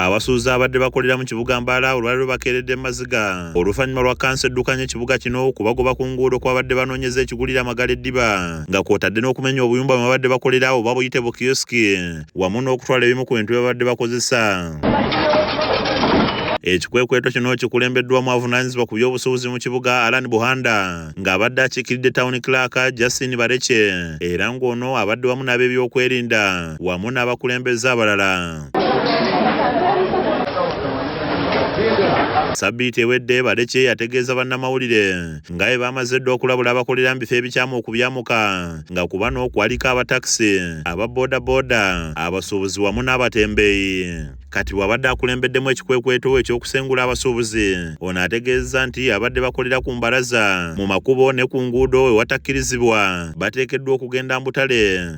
Abasuuza abadde bakolera mu kibuga Mbala olwali lubakeeredde mu maziga oluvannyuma lwa kansa eddukanya ekibuga kino okubagoba ku nguudo kwabadde banoonyeza ekigulira amagala eddiba nga kwotadde n'okumenya obuyumba bwe babadde bakolera oba buyite bu kiyosiki wamu n'okutwala ebimu ku bintu bye babadde bakozesa. Ekikwekweto kino kikulembeddwamu avunaanyizibwa ku by'obusuubuzi mu kibuga Alan Buhanda ng'abadde akiikiridde town clerk Justin Barece era ng'ono abadde wamu n'ab'ebyokwerinda wamu n'abakulembeze abalala. Sabbiiti ewedde Balekye yategeeza bannamawulire nga bwe baamaze dda okulabula abakolera mu bifo ebikyamu okubyamuka nga ku bano kwaliko abatakisi aba bodaboda abasuubuzi wamu n'abatembeeyi kati bw'abadde akulembeddemu ekikwekweto eky'okusengula abasuubuzi ono ategeezza nti abadde bakolera ku mbalaza mu makubo ne ku nguudo ewatakkirizibwa bateekeddwa okugenda mu butale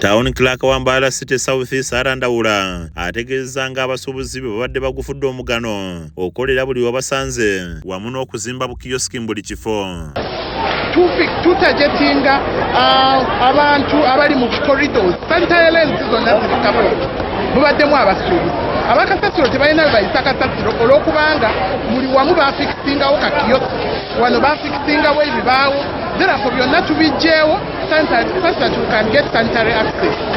Town Clerk wa Mbaala City South Sara Ndawula ategeezza nga abasuubuzi be babadde bagufudde omugano okukolera buli wabasanze wamu n'okuzimba bukiyosiki mu buli kifo tutagetinga uh, abantu abali mu corridors sanitary lens zonna zirikako mubaddemu abasuubuzi abakasasiro tebalina bebayisa kasasiro olwokubanga buli wamu bafikisingawo kakiyosiki wano bafikisingawo ebibaawo therefo byonna tubijjeewo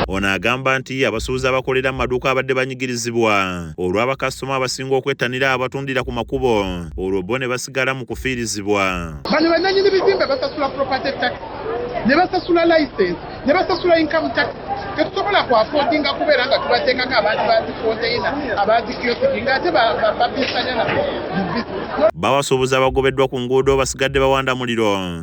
ono agamba nti abasuubuzi abakolera mu maduuka abadde banyigirizibwa olwa bakasitoma abasinga okwettanira abatundira ku makubo olwo bo ne basigala mu kufiirizibwa bano bannanyini bizimbe basasula property tax ne basasula license ne basasula income tax tetusobola kwafodinga kubeera nga tubateekako abantu bazifonteyina abazikiyosiki ngaate babiisanya nabo mu bizinesi bawasuubuzi abagobeddwa ku nguudo basigadde bawanda muliro